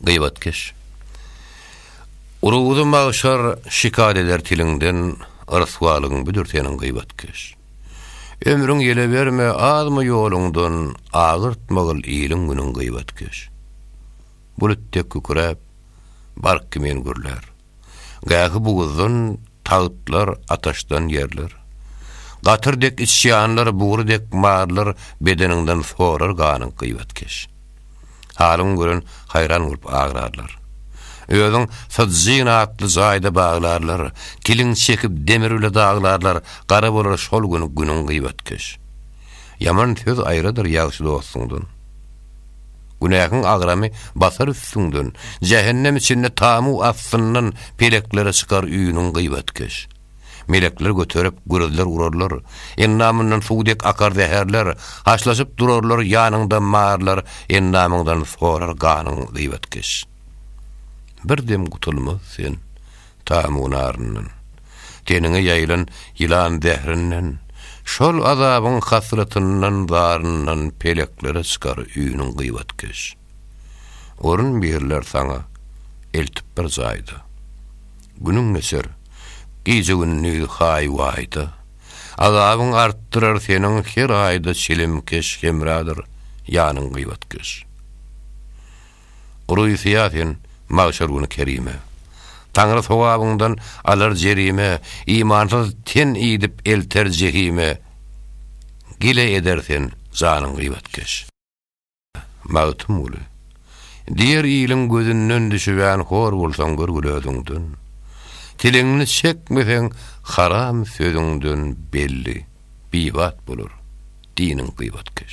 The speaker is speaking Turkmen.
Gyýbatkeş. Urugy magşar şikaýat eder tiliňden, Ryswalygyň büdür seniň gyýbatkeş. Ömrüň ýele berme, azmy ýoluňdan, Agyrtmagil iliň günüň gyýbatkeş. Bulut dek kükräp, bark kimin gürlär. Gähi buguzdan tagtlar, ataşdan ýerler. Gatyr dek içýanlar, bugury dek marlar bedeniňden sorar ganyň gybetkeş. Halyň gören haýran bolup agrarlar. Özüň syjjyn atly jaýda baglarlar, kiliň çekip demir bile daglarlar, gara bolar şol gün günüň gybetkeş. Ýaman söz aýradyr ýagşy dostuňdan. Günähiň agramy basar üstüňden, jähennem içinde tamu astyndan peleklere çykar üýnüň gyýbatkeş. Melekler göterip, gürrüzler urarlar, endamyndan suw dek akar zäherler, haşlaşyp durarlar ýanyňda marylar endamyňdan sorar ganyň gyýbatkeş. Bir dem gutulmaz sen, Tamu naryndan, teniňe ýaýylan ýylan zährinden, şol azabyň hasratyndan, zaryndan peleklere çykar üýnüň gybatkeş. Orun berler saňa eltip bir jaýda. Günüň geçer, gije-gündiz haý-waýda, azabyň artdyrar seniň her aýda çilimkeş hemradyr ýanyň gybatkeş. Gury syýa sen, magşar güni kerime. Taňry sogabyňdan alar jerime, Imansyz ten idip elter jehime. Gile eder sen, janyň gyýbatkeş. Magtymguly. Diýer iliň gözünden düşübän hor bolsaň gör gül özüňden. Tilinni çekmeseň haram sözüňden belli, biýbat bolar diniň gyýbatkeş.